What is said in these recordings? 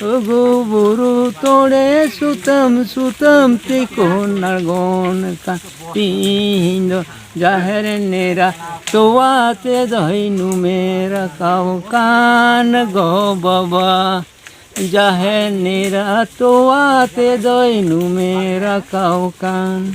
ᱜᱩ ᱵᱩᱨᱩ ᱛᱚᱲᱮ ᱥᱩᱛᱟᱹᱢ ᱥᱩᱛᱟᱹᱢ ᱛᱤᱠᱩᱱ ᱟᱬᱜᱚᱱ ᱠᱟᱱ ᱛᱤᱦᱤᱧ ᱫᱚ ᱡᱟᱦᱮᱨ ᱱᱮᱨᱟ ᱛᱚᱣᱟ ᱛᱮ ᱫᱚᱭ ᱱᱩᱢᱮ ᱨᱟᱠᱟᱵ ᱠᱟᱱ ᱜᱚ ᱵᱟᱵᱟ ᱡᱟᱦᱮᱨ ᱱᱮᱨᱟ ᱛᱚᱣᱟ ᱛᱮ ᱫᱚᱭ ᱱᱩᱢᱮ ᱨᱟᱠᱟᱵ ᱠᱟᱱ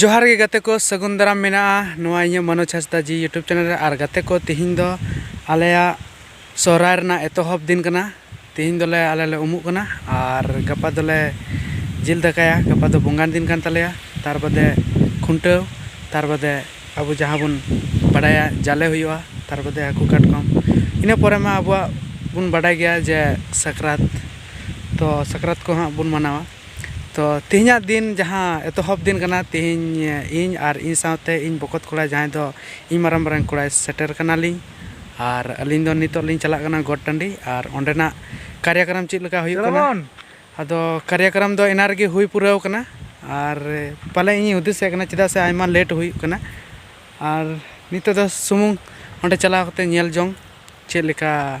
ᱡᱚᱦᱟᱨ ᱜᱮ ᱜᱟᱛᱮ ᱠᱚ ᱥᱟᱹᱜᱩᱱ ᱫᱟᱨᱟᱢ ᱢᱮᱱᱟᱜᱼᱟ ᱱᱚᱣᱟ ᱤᱧᱟᱹᱜ ᱢᱚᱱᱳᱡᱽ ᱦᱟᱸᱥᱫᱟ ᱡᱤ ᱤᱭᱩᱴᱩᱵᱽ ᱪᱮᱱᱮᱞ ᱨᱮ ᱟᱨ ᱜᱟᱛᱮ ᱠᱚ ᱛᱤᱦᱤᱧ ᱫᱚ ᱟᱞᱮᱭᱟᱜ ᱥᱚᱦᱨᱟᱭ ᱨᱮᱱᱟᱜ ᱮᱛᱚᱦᱚᱵ ᱫᱤᱱ ᱠᱟᱱᱟ ᱛᱤᱦᱤᱧ ᱫᱚᱞᱮ ᱟᱞᱮ ᱞᱮ ᱩᱢᱩᱜ ᱠᱟᱱᱟ ᱟᱨ ᱜᱟᱯᱟ ᱫᱚᱞᱮ ᱡᱤᱞ ᱫᱟᱠᱟᱭᱟ ᱜᱟᱯᱟ ᱫᱚ ᱵᱚᱸᱜᱟᱱ ᱫᱤᱱ ᱠᱟᱱ ᱛᱟᱞᱮᱭᱟ ᱛᱟᱨ ᱵᱟᱫᱮ ᱠᱷᱩᱱᱴᱟᱹᱣ ᱛᱟᱨ ᱵᱟᱫᱮ ᱟᱵᱚ ᱡᱟᱦᱟᱸ ᱵᱚᱱ ᱵᱟᱰᱟᱭᱟ ᱡᱟᱞᱮ ᱦᱩᱭᱩᱜᱼᱟ ᱛᱟᱨ ᱵᱟᱫᱮ ᱦᱟᱹᱠᱩ ᱠᱟᱴᱠᱚᱢ ᱤᱱᱟᱹ ᱯᱚᱨᱮ ᱢᱟ ᱟᱵᱚᱣᱟᱜ ᱵᱚᱱ ᱵᱟᱰᱟᱭ ᱜᱮᱭᱟ ᱡᱮ ᱥᱟᱠᱨᱟᱛ ᱛᱚ ᱥᱟᱠᱨᱟᱛ ᱠᱚ ᱦᱟᱸᱜ ᱵᱚᱱ ᱢᱟᱱᱟᱣᱟ ᱛᱚ ᱛᱮᱦᱮᱧᱟᱜ ᱫᱤᱱ ᱡᱟᱦᱟᱸ ᱮᱛᱚᱦᱚᱵ ᱫᱤᱱ ᱠᱟᱱᱟ ᱛᱮᱦᱮᱧ ᱤᱧ ᱟᱨ ᱤᱧ ᱥᱟᱶᱛᱮ ᱤᱧ ᱵᱚᱠᱚᱛ ᱠᱚᱲᱟ ᱡᱟᱦᱟᱸᱭ ᱫᱚ ᱤᱧ ᱢᱟᱨᱟᱝ ᱵᱟᱨᱮᱱ ᱠᱚᱲᱟᱭ ᱥᱮᱴᱮᱨ ᱠᱟᱱᱟᱞᱤᱧ ᱟᱨ ᱟᱹᱞᱤᱧ ᱫᱚ ᱱᱤᱛᱚᱜ ᱞᱤᱧ ᱪᱟᱞᱟᱜ ᱠᱟᱱᱟ ᱜᱚᱴ ᱴᱟᱺᱰᱤ ᱟᱨ ᱚᱸᱰᱮᱱᱟᱜ ᱠᱟᱨᱭᱟᱠᱨᱚᱢ ᱪᱮᱫ ᱞᱮᱠᱟ ᱦᱩᱭᱩᱜ ᱠᱟᱱᱟ ᱟᱫᱚ ᱠᱟᱨᱭᱟᱠᱨᱚᱢ ᱫᱚ ᱮᱱᱟᱝ ᱨᱮᱜᱮ ᱦᱩᱭ ᱯᱩᱨᱟᱹᱣ ᱠᱟᱱᱟ ᱟᱨ ᱯᱟᱞᱮ ᱤᱧᱤᱧ ᱦᱩᱫᱤᱥᱮᱫ ᱠᱟᱱᱟ ᱪᱮᱫᱟᱜ ᱥᱮ ᱟᱭᱢᱟ ᱞᱮᱴ ᱦᱩᱭᱩᱜ ᱠᱟᱱᱟ ᱟᱨ ᱱᱤᱛᱚᱜ ᱫᱚ ᱥᱩᱢᱩᱝ ᱚᱸᱰᱮ ᱪᱟᱞᱟᱣ ᱠᱟᱛᱮᱫ ᱧᱮᱞ ᱡᱚᱝ ᱪᱮᱫ ᱞᱮᱠᱟ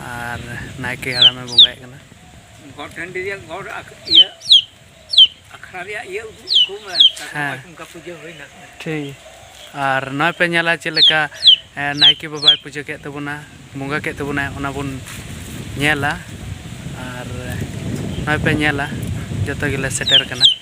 ᱟᱨ ᱱᱟᱭᱠᱮ ᱦᱟᱲᱟᱢᱮ ᱵᱚᱸᱜᱟᱭᱮᱫ ᱠᱟᱱᱟ ᱜᱚᱰ ᱴᱟᱺᱰᱤ ᱨᱮᱭᱟᱜ ᱜᱚᱰ ᱤᱭᱟᱹ ᱟᱠᱷᱲᱟ ᱨᱮᱭᱟᱜ ᱤᱭᱟᱹ ᱩᱫᱩᱜ ᱠᱚ ᱢᱮ ᱦᱮᱸ ᱚᱱᱠᱟ ᱯᱩᱡᱟᱹ ᱦᱩᱭᱱᱟ ᱴᱷᱤᱠ ᱟᱨ ᱱᱚᱜᱼᱚᱭ ᱯᱮ ᱧᱮᱞᱟ ᱪᱮᱫ ᱞᱮᱠᱟ ᱱᱟᱭᱠᱮ ᱵᱟᱵᱟᱭ ᱯᱩᱡᱟᱹ ᱠᱮᱫ ᱛᱟᱵᱚᱱᱟ ᱵᱚᱸᱜᱟ ᱠᱮᱫ ᱛᱟᱵᱚᱱᱟᱭ ᱚᱱᱟ ᱵᱚᱱ ᱧᱮᱞᱟ ᱟᱨ ᱱᱚᱜᱼᱚᱭ ᱯᱮ ᱧᱮᱞᱟ ᱡᱚᱛᱚ ᱜᱮᱞᱮ ᱥᱮᱴᱮᱨ ᱠᱟᱱᱟ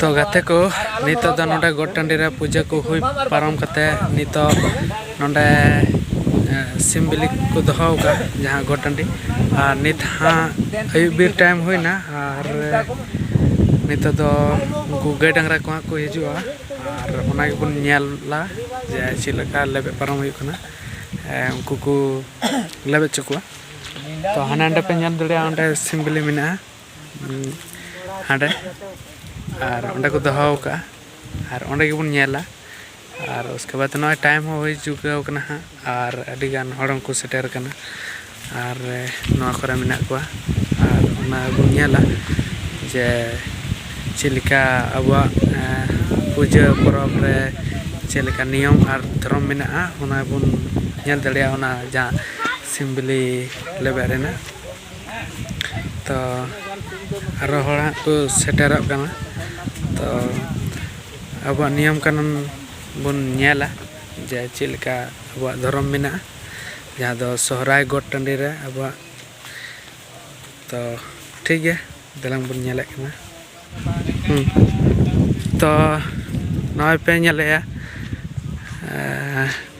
ᱛᱚ ᱜᱟᱛᱮ ᱠᱚ ᱱᱤᱛᱚᱜ ᱫᱚ ᱱᱚᱰᱮ ᱜᱚᱴ ᱴᱟᱺᱰᱤ ᱨᱮ ᱯᱩᱡᱟᱹ ᱠᱚ ᱦᱩᱭ ᱯᱟᱨᱚᱢ ᱠᱟᱛᱮ ᱱᱤᱛᱚᱜ ᱱᱚᱰᱮ ᱥᱤᱢ ᱵᱤᱞᱤ ᱠᱚ ᱫᱚᱦᱚ ᱟᱠᱟᱫ ᱡᱟᱦᱟᱸ ᱜᱚᱴ ᱴᱟᱺᱰᱤ ᱟᱨ ᱱᱤᱛ ᱦᱟᱸᱜ ᱟᱹᱭᱩᱵ ᱵᱤᱨ ᱴᱟᱭᱤᱢ ᱦᱩᱭᱱᱟ ᱟᱨ ᱱᱤᱛᱚᱜ ᱫᱚ ᱩᱱᱠᱩ ᱜᱟᱹᱭ ᱰᱟᱝᱨᱟ ᱠᱚ ᱦᱟᱸᱜ ᱠᱚ ᱦᱤᱡᱩᱜᱼᱟ ᱟᱨ ᱚᱱᱟ ᱜᱮᱵᱚᱱ ᱧᱮᱞᱟ ᱡᱮ ᱪᱮᱫ ᱞᱮᱠᱟ ᱞᱮᱵᱮᱫ ᱯᱟᱨᱚᱢ ᱦᱩᱭᱩᱜ ᱠᱟᱱᱟ ᱩᱱᱠᱩ ᱠᱚ ᱞᱮᱵᱮᱫ ᱦᱚᱪᱚ ᱠᱚᱣᱟ ᱛᱚ ᱦᱟᱸᱰᱮ ᱱᱟᱰᱮ ᱯᱮ ᱧᱮᱞ ᱫᱟᱲᱮᱭᱟᱜᱼᱟ ᱚᱸᱰᱮ ᱥᱤᱢ ᱵᱤᱞᱤ ᱢᱮᱱᱟᱜᱼᱟ ᱦᱟᱸᱰᱮ ᱟᱨ ᱚᱸᱰᱮ ᱠᱚ ᱫᱚᱦᱚ ᱟᱠᱟᱫᱼᱟ ᱟᱨ ᱚᱸᱰᱮ ᱜᱮᱵᱚᱱ ᱧᱮᱞᱟ ᱟᱨ ᱩᱥᱠᱮ ᱵᱟᱫᱽ ᱱᱚᱜᱼᱚᱭ ᱴᱟᱭᱤᱢ ᱦᱚᱸ ᱦᱩᱭ ᱪᱩᱠᱟᱹᱣ ᱠᱟᱱᱟ ᱦᱟᱸᱜ ᱟᱨ ᱟᱹᱰᱤ ᱜᱟᱱ ᱦᱚᱲ ᱦᱚᱸᱠᱚ ᱥᱮᱴᱮᱨ ᱠᱟᱱᱟ ᱟᱨ ᱱᱚᱣᱟ ᱠᱚᱨᱮ ᱢᱮᱱᱟᱜ ᱠᱚᱣᱟ ᱟᱨ ᱚᱱᱟ ᱵᱚᱱ ᱧᱮᱞᱟ ᱡᱮ ᱪᱮᱫ ᱞᱮᱠᱟ ᱟᱵᱚᱣᱟᱜ ᱯᱩᱡᱟᱹ ᱯᱚᱨᱚᱵᱽ ᱨᱮ ᱪᱮᱫ ᱞᱮᱠᱟ ᱱᱤᱭᱚᱢ ᱟᱨ ᱫᱷᱚᱨᱚᱢ ᱢᱮᱱᱟᱜᱼᱟ ᱚᱱᱟ ᱵᱚᱱ ᱧᱮᱞ ᱫᱟᱲᱮᱭᱟᱜᱼᱟ ᱚᱱᱟ ᱡᱟᱦᱟᱸ ᱥᱤᱢ ᱵᱤᱞᱤ ᱞᱮᱵᱮᱫ ᱨᱮᱱᱟᱜ ᱛᱚ ᱟᱨᱚ ᱦᱚᱲ ᱦᱟᱸᱜ ᱠᱚ ᱥᱮᱴᱮᱨᱚᱜ ᱠᱟᱱᱟ ᱛᱚ ᱟᱵᱚᱣᱟᱜ ᱱᱤᱭᱚᱢ ᱠᱟᱹᱱᱩᱱ ᱵᱚᱱ ᱧᱮᱞᱟ ᱡᱮ ᱪᱮᱫ ᱞᱮᱠᱟ ᱟᱵᱚᱣᱟᱜ ᱫᱷᱚᱨᱚᱢ ᱢᱮᱱᱟᱜᱼᱟ ᱡᱟᱦᱟᱸ ᱫᱚ ᱥᱚᱦᱨᱟᱭ ᱜᱚᱴ ᱴᱟᱺᱰᱤ ᱨᱮ ᱟᱵᱚᱣᱟᱜ ᱛᱚ ᱴᱷᱤᱠ ᱜᱮᱭᱟ ᱫᱮᱞᱟᱝ ᱵᱚᱱ ᱧᱮᱞᱮᱫ ᱠᱟᱱᱟ ᱦᱩᱸ ᱛᱚ ᱱᱚᱜᱼᱚᱭ ᱯᱮ ᱧᱮᱞᱮᱫᱼᱟ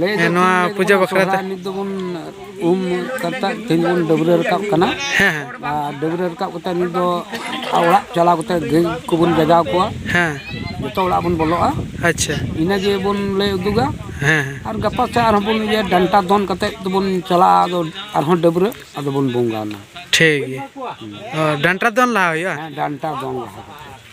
ᱞᱟᱹᱭ ᱫᱚ ᱱᱚᱣᱟ ᱛᱤᱱ ᱞᱟᱹᱭ ᱯᱩᱡᱟᱹ ᱛᱟᱵᱚᱱᱟ ᱵᱟᱠᱷᱨᱟ ᱛᱮ ᱥᱚᱦᱨᱟᱭ ᱱᱤᱛ ᱫᱚᱵᱚᱱ ᱩᱢ ᱠᱟᱛᱮᱫ ᱛᱮᱦᱮᱧ ᱵᱚᱱ ᱰᱟᱹᱵᱽᱨᱟᱹ ᱨᱟᱠᱟᱵ ᱠᱟᱱᱟ ᱦᱮᱸ ᱦᱮᱸ ᱟᱨ ᱰᱟᱹᱵᱽᱨᱟᱹ ᱨᱟᱠᱟᱵ ᱠᱟᱛᱮᱫ ᱱᱤᱛ ᱫᱚ ᱚᱲᱟᱜ ᱪᱟᱞᱟᱣ ᱠᱟᱛᱮᱫ ᱜᱟᱹᱭ ᱠᱚᱵᱚᱱ ᱡᱟᱜᱟᱣ ᱠᱚᱣᱟ ᱦᱮᱸ ᱡᱚᱛᱚ ᱚᱲᱟᱜ ᱵᱚᱱ ᱵᱚᱞᱚᱜᱼᱟ ᱟᱪᱪᱷᱟ ᱤᱱᱟᱹ ᱜᱮ ᱵᱚᱱ ᱞᱟᱹᱭ ᱩᱫᱩᱜᱟ ᱦᱮᱸ ᱦᱮᱸ ᱟᱨ ᱜᱟᱯᱟ ᱥᱮᱫ ᱟᱨᱦᱚᱸ ᱵᱚᱱ ᱤᱭᱟᱹ ᱰᱟᱱᱴᱟ ᱫᱚᱱ ᱠᱟᱛᱮᱫ ᱫᱚᱵᱚᱱ ᱪᱟᱞᱟᱜᱼᱟ ᱟᱫᱚ ᱟᱨᱦᱚᱸ ᱰᱟᱹᱵᱽᱨᱟᱹ ᱟᱫᱚ ᱵᱚᱱ ᱵᱚᱸᱜᱟᱱᱟ ᱴᱷᱤᱠ ᱜᱮᱭᱟ ᱚ, ᱰᱟᱱᱴᱟ ᱫᱚᱱ ᱞᱟᱦᱟ ᱦᱩᱭᱩᱜᱼᱟ ᱦᱮᱸ ᱰᱟᱱᱴᱟ ᱫᱚᱱ ᱞᱟᱦᱟ ᱠᱟᱛᱮᱫ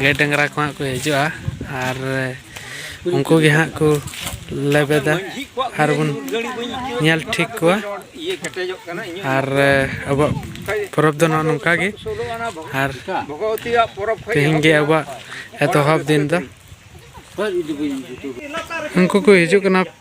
ᱜᱟᱹᱭ ᱰᱟᱝᱨᱟ ᱠᱚ ᱦᱟᱸᱜ ᱠᱚ ᱦᱤᱡᱩᱜᱼᱟ ᱟᱨ ᱩᱱᱠᱩ ᱜᱮ ᱦᱟᱸᱜ ᱠᱚ ᱞᱮᱵᱮᱫᱟ ᱟᱨ ᱵᱚᱱ ᱧᱮᱞ ᱴᱷᱤᱠ ᱠᱚᱣᱟ ᱟᱨ ᱟᱵᱚᱣᱟᱜ ᱯᱚᱨᱚᱵᱽ ᱫᱚ ᱱᱚᱜᱼᱚ ᱱᱚᱝᱠᱟ ᱜᱮ ᱟᱨ ᱛᱮᱦᱮᱧ ᱜᱮ ᱟᱵᱚᱣᱟᱜ ᱮᱛᱚᱦᱚᱵ ᱫᱤᱱ ᱫᱚ ᱩᱱᱠᱩ ᱠᱚ ᱦᱤᱡᱩᱜ ᱠᱟᱱᱟ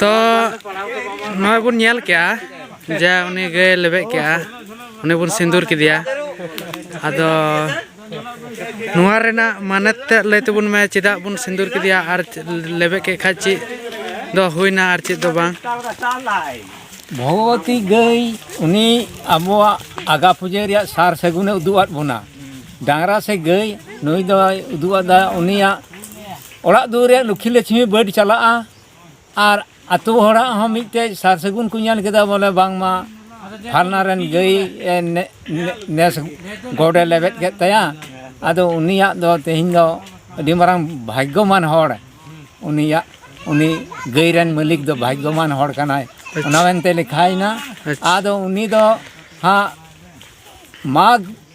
ᱛᱚ ᱱᱚᱜᱼᱚᱭ ᱵᱚᱱ ᱧᱮᱞ ᱠᱮᱜᱼᱟ ᱡᱮ ᱩᱱᱤ ᱜᱟᱹᱭ ᱞᱮᱵᱮᱫ ᱠᱮᱜᱼᱟ ᱩᱱᱤ ᱵᱚᱱ ᱥᱤᱸᱫᱩᱨ ᱠᱮᱫᱮᱭᱟ ᱟᱫᱚ ᱱᱚᱣᱟ ᱨᱮᱱᱟᱜ ᱢᱟᱱᱮ ᱛᱮᱫ ᱞᱟᱹᱭ ᱛᱟᱵᱚᱱ ᱢᱮ ᱪᱮᱫᱟᱜ ᱵᱚᱱ ᱥᱤᱸᱫᱩᱨ ᱠᱮᱫᱮᱭᱟ ᱟᱨ ᱞᱮᱵᱮᱫ ᱠᱮᱫ ᱠᱷᱟᱡ ᱪᱮᱫ ᱫᱚ ᱦᱩᱭᱱᱟ ᱟᱨ ᱪᱮᱫ ᱫᱚ ᱵᱟᱝ ᱵᱷᱚᱜᱚᱵᱚᱛᱤ ᱜᱟᱹᱭ ᱩᱱᱤ ᱟᱵᱚᱣᱟᱜ ᱟᱜᱟ ᱯᱩᱡᱟᱹ ᱨᱮᱭᱟᱜ ᱥᱟᱨ ᱥᱟᱹᱜᱩᱱᱮ ᱩᱫᱩᱜ ᱟᱫ ᱵᱚᱱᱟ ᱰᱟᱝᱨᱟ ᱥᱮ ᱜᱟᱹᱭ ᱱᱩᱭ ᱫᱚᱭ ᱩᱫᱩᱜ ᱟᱫᱟ ᱩᱱᱤᱭᱟᱜ ᱚᱲᱟᱜ ᱫᱩᱣᱟᱹᱨ ᱨᱮᱭᱟᱜ ᱞᱩᱠᱷᱤ ᱞᱟᱹᱪᱷᱢᱤ ᱵᱟᱹᱰ ᱪᱟᱞᱟᱜᱼᱟ ᱟᱨ ᱟᱛᱳ ᱦᱚᱲᱟᱜ ᱦᱚᱸ ᱢᱤᱫᱴᱮᱡ ᱥᱟᱨ ᱥᱟᱹᱜᱩᱱ ᱠᱚ ᱧᱮᱞ ᱠᱮᱫᱟ ᱵᱚᱞᱮ ᱵᱟᱝᱢᱟ ᱯᱷᱟᱞᱱᱟ ᱨᱮᱱ ᱜᱟᱹᱭ ᱱᱮᱥ ᱜᱚᱰᱮ ᱞᱮᱵᱮᱫ ᱠᱮᱫ ᱛᱟᱭᱟ ᱟᱫᱚ ᱩᱱᱤᱭᱟᱜ ᱫᱚ ᱛᱮᱦᱮᱧ ᱫᱚ ᱟᱹᱰᱤ ᱢᱟᱨᱟᱝ ᱵᱷᱟᱜᱽᱜᱚᱢᱟᱱ ᱦᱚᱲ ᱩᱱᱤᱭᱟᱜ ᱩᱱᱤ ᱜᱟᱹᱭ ᱨᱮᱱ ᱢᱟᱹᱞᱤᱠ ᱫᱚ ᱵᱷᱟᱜᱽᱜᱚᱢᱟᱱ ᱦᱚᱲ ᱠᱟᱱᱟᱭ ᱚᱱᱟ ᱢᱮᱱᱛᱮ ᱞᱮᱠᱷᱟᱭᱮᱱᱟ ᱟᱫᱚ ᱩᱱᱤ ᱫᱚ ᱦᱟᱸᱜ ᱢᱟᱜᱽ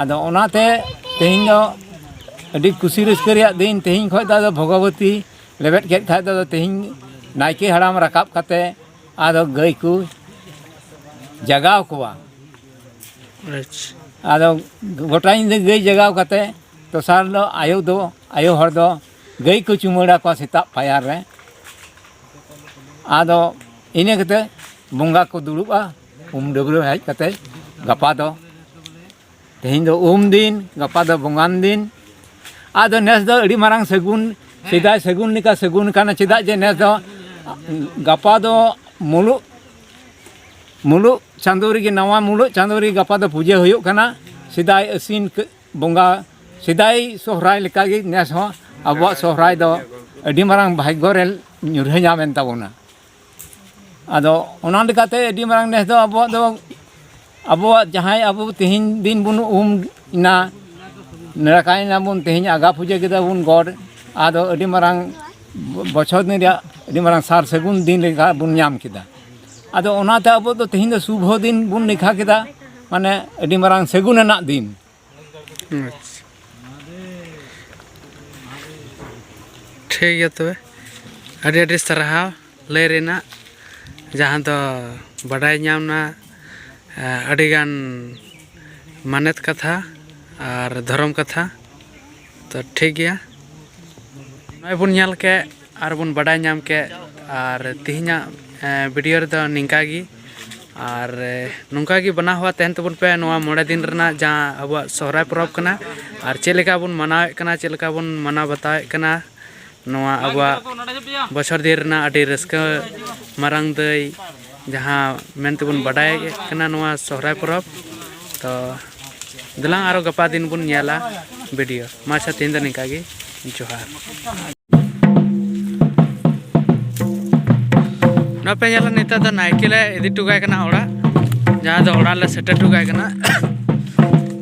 ᱟᱫᱚ ᱚᱱᱟᱛᱮ ᱛᱮᱦᱮᱧ ᱫᱚ ᱟᱹᱰᱤ ᱠᱩᱥᱤ ᱨᱟᱹᱥᱠᱟᱹ ᱨᱮᱭᱟᱜ ᱫᱤᱱ ᱛᱮᱦᱮᱧ ᱠᱷᱚᱱ ᱫᱚ ᱟᱫᱚ ᱵᱷᱚᱜᱚᱵᱚᱛᱤ ᱞᱮᱵᱮᱫ ᱠᱮᱫ ᱠᱷᱟᱱ ᱫᱚ ᱛᱮᱦᱮᱧ ᱱᱟᱭᱠᱮ ᱦᱟᱲᱟᱢ ᱨᱟᱠᱟᱵ ᱠᱟᱛᱮᱫ ᱟᱫᱚ ᱜᱟᱹᱭ ᱠᱚ ᱡᱟᱜᱟᱣ ᱠᱚᱣᱟ ᱟᱫᱚ ᱜᱳᱴᱟ ᱧᱤᱫᱟᱹ ᱜᱟᱹᱭ ᱡᱟᱜᱟᱣ ᱠᱟᱛᱮᱫ ᱫᱚᱥᱟᱨ ᱦᱤᱞᱳᱜ ᱟᱭᱳ ᱫᱚ ᱟᱭᱳ ᱦᱚᱲ ᱫᱚ ᱜᱟᱹᱭ ᱠᱚ ᱪᱩᱢᱟᱹᱲᱟ ᱠᱚᱣᱟ ᱥᱮᱛᱟᱜ ᱯᱟᱭᱟᱨ ᱨᱮ ᱟᱫᱚ ᱤᱱᱟᱹ ᱠᱟᱛᱮᱫ ᱵᱚᱸᱜᱟ ᱠᱚ ᱫᱩᱲᱩᱵᱼᱟ ᱩᱢ ᱰᱟᱹᱵᱽᱨᱟᱹ ᱦᱮᱡ ᱠᱟᱛᱮ ᱜᱟᱯᱟ ᱫᱚ ᱛᱮᱦᱮᱧ ᱫᱚ ᱩᱢ ᱫᱤᱱ ᱜᱟᱯᱟ ᱫᱚ ᱵᱚᱸᱜᱟᱱ ᱫᱤᱱ ᱟᱫᱚ ᱱᱮᱥ ᱫᱚ ᱟᱹᱰᱤ ᱢᱟᱨᱟᱝ ᱥᱟᱹᱜᱩᱱ ᱥᱮᱫᱟᱭ ᱥᱟᱹᱜᱩᱱ ᱞᱮᱠᱟ ᱥᱟᱹᱜᱩᱱ ᱠᱟᱱᱟ ᱪᱮᱫᱟᱜ ᱡᱮ ᱱᱮᱥ ᱫᱚ ᱜᱟᱯᱟ ᱫᱚ ᱢᱩᱞᱩᱜ ᱢᱩᱞᱩᱜ ᱪᱟᱸᱫᱳ ᱨᱮᱜᱮ ᱱᱟᱣᱟ ᱢᱩᱞᱩᱜ ᱪᱟᱸᱫᱳ ᱨᱮᱜᱮ ᱜᱟᱯᱟ ᱫᱚ ᱯᱩᱡᱟᱹ ᱦᱩᱭᱩᱜ ᱠᱟᱱᱟ ᱥᱮᱫᱟᱭ ᱟᱹᱥᱤᱱ ᱵᱚᱸᱜᱟ ᱥᱮᱫᱟᱭ ᱥᱚᱦᱨᱟᱭ ᱞᱮᱠᱟᱜᱮ ᱱᱮᱥ ᱦᱚᱸ ᱟᱵᱚᱣᱟᱜ ᱥᱚᱦᱨᱟᱭ ᱫᱚ ᱟᱹᱰᱤ ᱢᱟᱨᱟᱝ ᱵᱷᱟᱜᱽᱜᱚ ᱨᱮ ᱧᱩᱨᱦᱟᱹ ᱧᱟᱢᱮᱱ ᱛᱟᱵᱚᱱᱟ ᱟᱫᱚ ᱚᱱᱟ ᱞᱮᱠᱟᱛᱮ ᱟᱹᱰᱤ ᱢᱟᱨᱟᱝ ᱱᱮᱥ ᱫᱚ ᱟᱵᱚᱣᱟᱜ ᱫᱚ ᱟᱵᱚᱣᱟᱜ ᱡᱟᱦᱟᱸᱭ ᱟᱵᱚ ᱛᱮᱦᱮᱧ ᱫᱤᱱ ᱵᱚᱱ ᱩᱢ ᱮᱱᱟ ᱱᱟᱲᱠᱟᱭ ᱱᱟᱵᱚᱱ ᱛᱮᱦᱮᱧ ᱟᱜᱟ ᱯᱩᱡᱟᱹ ᱠᱮᱫᱟ ᱵᱚᱱ ᱜᱚᱰ ᱟᱫᱚ ᱟᱹᱰᱤ ᱢᱟᱨᱟᱝ ᱵᱚᱪᱷᱚᱨ ᱫᱤᱱ ᱨᱮᱭᱟᱜ ᱟᱹᱰᱤ ᱢᱟᱨᱟᱝ ᱥᱟᱨ ᱥᱟᱹᱜᱩᱱ ᱫᱤᱱ ᱞᱮᱠᱟ ᱵᱚᱱ ᱧᱟᱢ ᱠᱮᱫᱟ ᱟᱫᱚ ᱚᱱᱟᱛᱮ ᱟᱵᱚ ᱫᱚ ᱛᱮᱦᱮᱧ ᱫᱚ ᱥᱩᱵᱷᱚ ᱫᱤᱱ ᱵᱚᱱ ᱞᱮᱠᱷᱟ ᱠᱮᱫᱟ ᱢᱟᱱᱮ ᱟᱹᱰᱤ ᱢᱟᱨᱟᱝ ᱥᱟᱹᱜᱩᱱ ᱟᱱᱟᱜ ᱫᱤᱱ ᱟᱪᱪᱷᱟ ᱴᱷᱤᱠ ᱜᱮᱭᱟ ᱛᱚᱵᱮ ᱟᱹᱰᱤ ᱟᱹᱰᱤ ᱥᱟᱨᱦᱟᱣ ᱞᱟᱹᱭ ᱨᱮᱱᱟᱜ ᱡᱟᱦᱟᱸ ᱫᱚ ᱵᱟᱰᱟᱭ ᱧᱟᱢᱱᱟ ᱟᱹᱰᱤᱜᱟᱱ ᱢᱟᱱᱚᱛ ᱠᱟᱛᱷᱟ ᱟᱨ ᱫᱷᱚᱨᱚᱢ ᱠᱟᱛᱷᱟ ᱛᱚ ᱴᱷᱤᱠ ᱜᱮᱭᱟ ᱱᱚᱜᱼᱚᱭ ᱵᱚᱱ ᱧᱮᱞ ᱠᱮᱫ ᱟᱨ ᱵᱚᱱ ᱵᱟᱰᱟᱭ ᱧᱟᱢ ᱠᱮᱫ ᱟᱨ ᱛᱮᱦᱮᱧᱟᱜ ᱵᱷᱤᱰᱤᱭᱳ ᱨᱮᱫᱚ ᱱᱤᱝᱠᱟ ᱜᱮ ᱟᱨ ᱱᱚᱝᱠᱟ ᱜᱮ ᱵᱟᱱᱟ ᱦᱚᱣᱟ ᱛᱟᱦᱮᱱ ᱛᱟᱵᱚᱱ ᱯᱮ ᱱᱚᱣᱟ ᱢᱚᱬᱮ ᱫᱤᱱ ᱨᱮᱱᱟᱜ ᱡᱟᱦᱟᱸ ᱟᱵᱚᱣᱟᱜ ᱥᱚᱦᱨᱟᱭ ᱯᱚᱨᱚᱵᱽ ᱠᱟᱱᱟ ᱟᱨ ᱪᱮᱫ ᱞᱮᱠᱟ ᱵᱚᱱ ᱢᱟᱱᱟᱣᱮᱫ ᱠᱟᱱᱟ ᱪᱮᱫ ᱞᱮᱠᱟ ᱵᱚᱱ ᱢᱟᱱᱟᱣ ᱵᱟᱛᱟᱣᱮᱫ ᱠᱟᱱᱟ ᱱᱚᱣᱟ ᱟᱵᱚᱣᱟᱜ ᱵᱚᱪᱷᱚᱨ ᱫᱤᱱ ᱨᱮᱱᱟᱜ ᱟᱹᱰᱤ ᱨᱟᱹᱥᱠᱟᱹ ᱢᱟᱨᱟᱝ ᱫᱟᱹᱭ ᱡᱟᱦᱟᱸ ᱢᱮᱱ ᱛᱮᱵᱚᱱ ᱵᱟᱰᱟᱭ ᱠᱟᱱᱟ ᱱᱚᱣᱟ ᱥᱚᱦᱨᱟᱭ ᱯᱚᱨᱚᱵᱽ ᱛᱚ ᱫᱮᱞᱟᱝ ᱟᱨᱚ ᱜᱟᱯᱟ ᱫᱤᱱ ᱵᱚᱱ ᱧᱮᱞᱟ ᱵᱷᱤᱰᱤᱭᱳ ᱢᱟ ᱟᱪᱪᱷᱟ ᱛᱮᱦᱮᱧ ᱫᱚ ᱱᱤᱝᱠᱟ ᱜᱮ ᱡᱚᱦᱟᱨ ᱱᱚᱣᱟ ᱯᱮ ᱧᱮᱞᱟ ᱱᱤᱛᱚᱜ ᱫᱚ ᱱᱟᱭᱠᱮ ᱞᱮ ᱤᱫᱤ ᱦᱚᱴᱚ ᱠᱟᱭ ᱠᱟᱱᱟ ᱚᱲᱟᱜ ᱡᱟᱦᱟᱸ ᱫᱚ ᱚᱲᱟᱜ ᱞᱮ ᱥᱮᱴᱮᱨ ᱦᱚᱴᱚ ᱠᱟᱭ ᱠᱟᱱᱟ